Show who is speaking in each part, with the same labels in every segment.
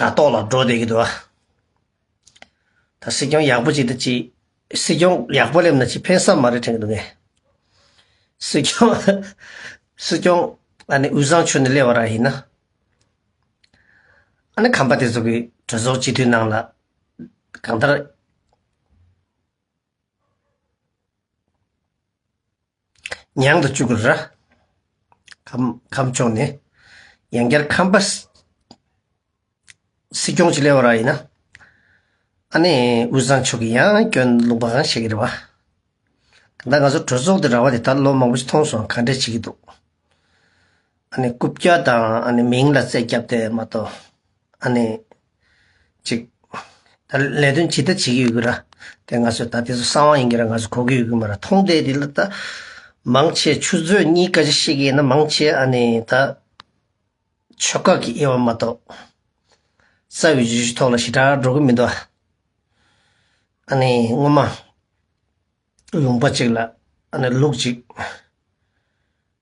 Speaker 1: དྲ་ཐོག་ལ་འགྲོ་བསྡད་ཀྱི་འདུག་ཨ། ད་སྲིད་སྐྱོང་ཡག་པོ་ཅིག་དང་ཅིག། སྲིད་སྐྱོང་ཡག་པོ་སླེབས་ན་ཅིག་ཕན་སབ་མ་རེད་དྲན་གྱི་འདུག་ངས། སྲིད་སྐྱོང། སྲིད་སྐྱོང། ཨ་ནི་དབུས་གཙང་ཆུ་ནས་སླེབས་བ་རང་ཡིན་ན། ཨ་ནི་ཁམས་པ་དེ་ཚོ་གི་གྲོས་ཚོགས་སྤྱི་འཐུས་ནང་ལ། གང་ལྟར། མྱང་དུ་བཅུག་ར། ཁམས་ཕྱོགས་ནས་ཡང་བསྐྱར་ཁམས་པ། སྲིད་སྐྱོང་ཅིག་སླེབས་ར་ཡིན་ན། ཨ་ནེ་དབུས་གཙང་ཕྱོགས་ཀྱི་ཡང་སྐྱོན་ལུང་པ་གང་བཤད་ཀྱི་རེད་བ། ད་ང་ཚོ་གྲོས་ཚོགས་དེ་ར་བ་དེ་ད་ལོ་མང་པོ་ཞིག་མཐོང་སོང་ག་འདྲས་བྱེད་ཀྱི་འདུག། ཨ་ནེ་རྐུབ་བཀྱག་དང་ཨ་ནེ་མིང་ལ་རྩད་བརྒྱབ་དེ་མ་གཏོགས། ཨ་ནི། ཅིག། ད་ལས་དོན་ཇི་ལྟར་བྱེད་ཀྱི་ཡོད་གི་ར། དེ་ང་ཚོས་ད་དེ་ཚོ་གསང་བ་ཡིན་གི་ར་ང་ཚོས་གོ་གི་ཡོད་གི་མ་ར་ཐོང་དེ་དེ་ལ་ད། མང་ཆེ་ཆུ་ཚོད་གཉིས་ཀ་ཅིག་ཤེས་གི་ཡིན་ན་མང་ཆེ་ཨ་ནི་ད། ཆོལ་ཁ་གི་དབྱེ་བ་མ་གཏོགས། རྩ་བའི་བརྗོད་གཞི་ཐོག་ལ་ཞེ་དྲག་འགྲོ་གི་མི་འདུག་ཨ་ནི་སྔོན་མ། ལུང་པ་ཅིག་ལ་ཨ་ནི་ལུག་ཅིག།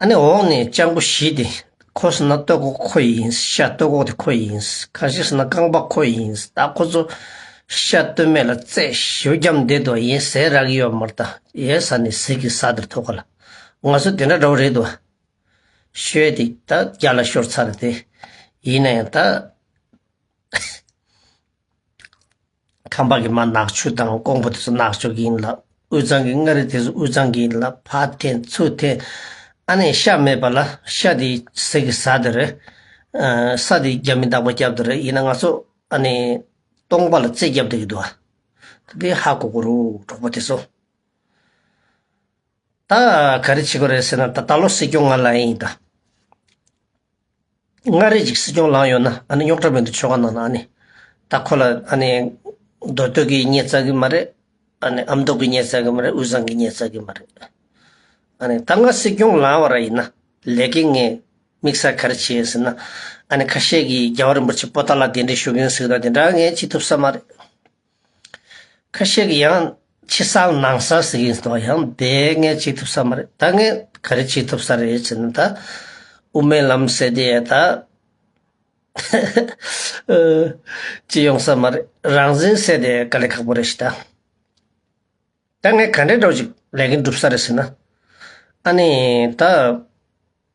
Speaker 1: ཨ་ནི་འོག་ནས་སྤྱང་པོ་བཞི་དེ་ཁོ་ཟེར་ན་སྟོད་ཁོག་ཁོ་ཡིན། ཤ་སྟོད་ཁོག་དེ་ཁོ་ཡིན། གང་ཞིག་ཟེར་ན་རྐང་པ་ཁོ་ཡིན། ད་ཁོ་ཚོ་ཤ་སྟོད་སྨད་ལ་རྩེད་ཞིའོ་རྒྱམ་བསྡད་འདུག་ཡིན་ཟས་རག་གི་ཡོད་མར་ད་ཡའི་ཟ་ནི་ཟིག་གི་ཟ་དེར་ཐུག་ག་ལ། ང་ཚོ་དེ་འདྲ་འདྲ་བོ་རེད་འདུག། ཤོད་དེ་ད་རྒྱ་ལ་ཤོར་ཚར་དེ། ཡིན་ན་ཡང་ད། ཁམས་པ་གི་མ་ནག་ཆུ་དང་ཀོང་པོ་དེ་ཚོ་ནག་ཆུ་གི་ཡིན་ལ་དབུས་གཙང་གི་མངའ་རིས་དེ་ཚོ་དབུས་གཙང་གི་ཡིན་ལ་ཕ་ཐེ་མཚུ་ཐེ་ཨ་ནེ་ཤ་མེད་པ་ལ་ཤ་དེ་ཟེར་གི་ཟ་དེ་རེད། ས་དེ་རྒྱ་མི་དག་པ་རྒྱབ་དེ་རེད་ཡིན་ན་ང་ཚོ་ཨ་ནེ་སྟོང་པ་ལ་རྩེ་རྒྱབ་དེ་གི་འདུག་ཨ། དེ་ཧ་གོ་གོ་རུ་གྲོགས་པོ་དེ་ཚོ། ད་ག་རེ་བྱེད་གོ་རེད་ཟེར་ན་ད་ད་ལོ་སྲིད་སྐྱོང་ང་ལ་ཡིན་ད། མངའ་རིས་ཀྱི་སྲིད་སྐྱོང་ལངས་ཡོད་ན་ཨ་ནི་རྙོག་དྲ་མེད་འདུག་ཆོལ་ཁ་ནང་ན་ཨ་ནི། ད་ཁོ་ལ་ཨ་ནི། མདོ་སྟོད་ཀྱིས་ཉེས་བཙལ་གི་མ་རེད། ཨ་ནི་ཨ་མདོ་གིས་ཉེས་བཙལ་གི་མ་རེད་དབུས་གཙང་གིས་ཉེས་བཙལ་གི་མ་རེད། ཨ་ནི་ད་ང་སྲིད་སྐྱོང་ལངས་བ་ར་ཡིན་ན་ལས་ཀའི་ངས་དམིགས་བསལ་ག་རེ་བྱེད་ཟེར་ན། ཨ་ནི་ཁ་ཤས་ཀྱིས་རྒྱལ་བ་རིན་པོ་ཆེ་པོ་ཏཱ་ལ་དེ་འདྲའི་ཞུ་མཁན་ཟིག་ད་དེ་འདྲ་ངས་བྱེད་ཐུབ་ས་མ་རེད། ཁ་ཤས་ཀྱིས་ཡང་ཕྱི་གསར་ནང་གསར་ཟེར་གྱིན་འདུག་ཡང་དེ་ངས་བྱེད་ཐུབ་ས་མ་རེད་ད་ངས་ག་རེ་བྱེད་ཐུབ་ས་རེད་ཟེར་ནས་ད་དབུ་མའི་ལམ་ཟེར་དེ་ཡང་ད་བྱེད་ཡོང་ས་མ་རེད་རང་བཞིན་ཟེར་དེ་དཀའ་ལས་ཁག་པོ་རེད་ཞེས་ད་ངས་ག་འདྲའི་སྒྲོག་ཅིག་ལས་ཀྱི་འགྲུབ་ས་རེད་ཟེར་ན་ཨ་ནི་ད།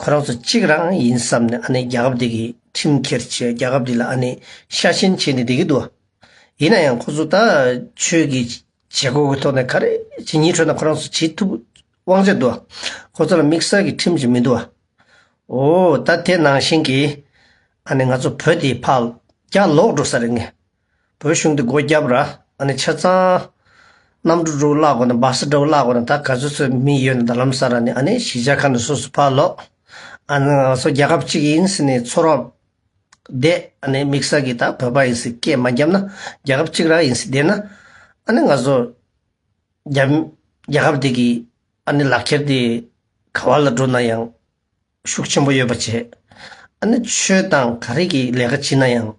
Speaker 1: ཁོ་རང་ཚོ་གཅིག་རང་ཡིན་བསམ་ནས་ཨ་ནེ་རྒྱལ་ཁབ་འདི་གི་ཁྲིམས་འཁྱེར་བྱས་རྒྱལ་ཁབ་འདི་ལ་ཨ་ནེ་ཤ་ཞེན་བྱས་ནས་བསྡད་ཀྱི་འདུག་བ། ཡིན་ན་ཡང་ཁོ་ཚོ་ད་ཆོས་ཀྱི་བྱེད་སྒོ་གི་ཐོག་ནས་ག་རེ་ཇི་སྙིད་ཁྲོད་ན་ཁོ་རང་ཚོ་བྱེད་ཐུབ་དབང་ཆ་འདུག་བ། ཁོ་ཚོ་ལ་དམིགས་བསལ་གྱི་ཁྲིམས་ཅིག་མི་འདུག་བ། འོ་ད་དེ་ནང་བཞིན་གྱིས་ཨ་ནེ་ང་ཚོ་བོད་འདི་ཕག་རྒྱ་ལོག་འགྲོ་ས་རེད་ངེས། བོད་གཞུང་དུ་སྒོ་བརྒྱབ་ར་ཨ་ནི་ཆ་ཚང། གནམ་གྲུ་འགྲོ་བརླག་གོ་ན་སྦག་ས་འགྲོ་བརླག་གོ་ན་ད་ག་ཚོད་ཚོད་མི་ཡོད་ན་ད་ལམ་ས་ར་ནི་ཨ་ནི་གཞིས་ཆགས་ཁ་ན་སོ་སོ་ཕར་ལོག་ཨ་ནི་ང་ཚོ་རྒྱལ་ཁབ་གཅིག་ཡིན་ཟེར་ནས་ཚོ་རོག་བསྡད་ཨ་ནི་མིག་ས་གི་ད་བོད་པ་ཡིན་ཟེར་སྐད་མ་རྒྱབ་ན་རྒྱལ་ཁབ་གཅིག་ར་ཡིན་ཟེར་བསྡད་ན་ཨ་ནི་ང་ཚོ་རྒྱ་རྒྱལ་ཁབ་དེ་གི་ཨ་ནི་ལག་ཁྱེར་དེ་ག་བ་ལ་འགྲོ་ན་ཡང། ཤུགས་ཆེན་པོ་ཡོད་པ་བྱེད། ཨ་ནི་ཆོས་དང་ག་རེ་གི་ལས་ཀ་བྱེད་ན་ཡང།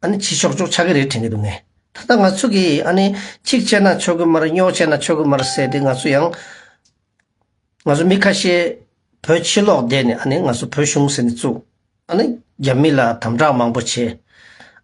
Speaker 1: ཨ་ནི་བྱེད་ཆོག་ཆོག་ཆགས་ཀྱི་རེད་དྲན་གྱི་འདུག་ངས་ད་ལྟ་ང་ཚོ་གིས་ཨ་ནི་གཅིག་བྱས་ན་ཆོག་གི་མ་རེད་རྙོག་བྱས་ན་ཆོག་གི་མ་རེད་ཟེར་ཏེ་ང་ཚོ་ཡང། ང་ཚོ་མི་ཁ་ཤས་བོད་ཕྱི་ལོགས་བསྡད་ནས་ཨ་ནི་ང་ཚོ་བོད་གཞུང་ཟེར་ནས་བཙུགས། ཨ་ནི་རྒྱ་མི་ལ་དམ་དྲག་མང་པོ་བྱས།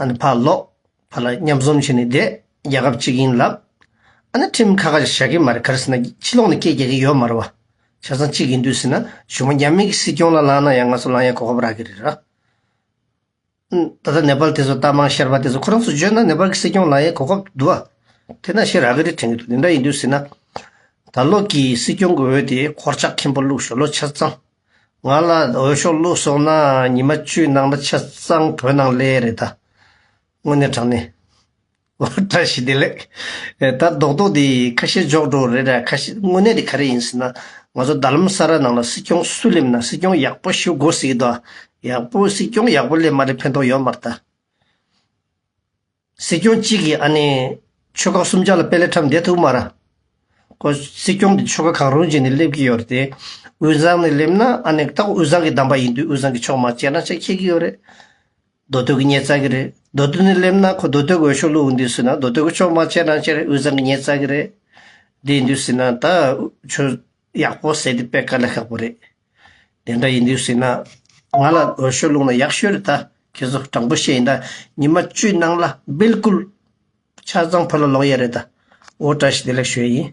Speaker 1: ཨ་ནི་ཕར་ལོག། ཕར་ལ་མཉམ་འཛོམས་བྱས་ནས་བསྡད། རྒྱལ་ཁབ་གཅིག་ཡིན་ལབ། ཨ་ནི་ཁྲིམས་ཁ་ཁ་བཞག་གི་མ་རེད་གར་སེ་ན་ཕྱི་ལོག་ནས་སྐད་རྒྱག་གི་ཡོད་མ་རེད་བ། ཆ་ཚང་གཅིག་ཡིན་དུས་སེ་ན་གཞུ་མ་རྒྱ་མི་གི་སྲིད་སྐྱོང་ལ་ལང་ན་ཡང་ང་ཚོ་ལང་ཡ་གོ་ཁབ་རག་གི་རེད་ར། ད་ལྟ་ནེ་པལ་དེ་ཚོ་རྟ་མང་ཤར་བ་དེ་ཚོ་ཁོ་རང་ཚོ་བརྗོད་ན་ནེ་པལ་གི་སྲིད་སྐྱོང་ལང་ཡ་གོ་ཁབ་འདུག་བ། དེ་ན་ཤེས་རག་གི་རེད་དྲན་གི་འདུག་དེ་འདྲ་ཡིན་དུས་སེ་ན། ད་ལོག་གི་སྲིད་སྐྱོང་གི་འོས་དེ་འཁོར་ཆགས་ཁེངས་པོ་བླུགས་ཞོར་ལོ་ཆ་ཚང། ང་ལ་འོས་ཤོག་བླུག་སོང་ན་ཉི་མ་བཅུའི་ནང་ན་ཆ་ཚང་བོད་ནང་ལས་རེད་ད། དངོས་གནས་དྲང་གནས། ཨོ་བཀྲ་ཤིས་བདེ་ལེགས། ད་རྡོག་རྡོག་འདི་ཁ་ཤས་འཇོག་འགྲོ་རེད་ད་ཁ་ཤས་དངོས་གནས་དེ་ག་རེ་ཡིན་ཟེར་ན་ང་ཚོ་རྡ་ལམ་ས་ར་ནང་ལ་སྲིད་སྐྱོང་སུ་སླེབས་ན་སྲིད་སྐྱོང་ཡག་པོ་ཞུ་དགོ་ཟེར་གི་འདུག་ཡག་པོ་སྲིད་སྐྱོང་ཡག་པོ་སླེབས་མ་རེད་ཕན་ཐོག་ཡོད་མ་རེད་ད། སྲིད་སྐྱོང་གཅིག་གིས་ཨ་ནེ། ཆོལ་ཁ་གསུམ་ཆ་ལ་དཔེ་ལེགས་འཁྲབ་འདེད་ཐུབ་མ་ར། ཁོ་སྲིད་སྐྱོང་གི་ཆོལ་ཁ་གང་རུང་ཅིག་ནས་སླེབས་ཀྱི་ཡོད་རེད་དེ། དབུས་གཙང་ནས་སླེབས་ན་ཨ་ནེ་རྟག་དབུས་གཙང་གི་གདམས་པ་ཡིན་དུས་དབུས་གཙང་གི་ཕྱོགས་མ་བྱས་ན་ཆ་ཁྱད་ཀྱི་ཡོད་རེད། མདོ་སྟོད་ཀྱི་ཉེས་རྩ་གི་རེད། མདོ་སྟོད་ནས་སླེབས་ན་ཁོ་མདོ་སྟོད་ཀྱི་འོས་ཤོག་བླུག་འདུས་སྲིད་ན་མདོ་སྟོད་ཀྱི་ཕྱོགས་མ་བྱས་ན་ཆ་རེད་དབུས་གཙང་གི་ཉེས་རྩ་གི་རེད། བསྡད་འདུས་སྲིད་ན་ད། ཡག་པོ་བསྲེས་ཏེ་སྤེལ་དཀའ་ན་ཤག་པོ་རེད། དེ་འདྲ་ཡིན་དུས་སྲིད་ན། ང་ལ་འོས་ཤོག་བླུག་ན་ཡག་ཤོས་རེད་ད། ཁྱེད་ཚོ་དྲང་པོ་བཤད་ཡིན་ད་ཉི་མ་བཅུའི་ནང་ལ་སྦེལ་ཀུལ། ཆ་ཚང་ཕོ་ལ་ལོག་ཡས་རེད་ད། འོ་བཀྲ་ཤིས་བདེ་ལེགས་ཞུ་ཡས་ཡིན།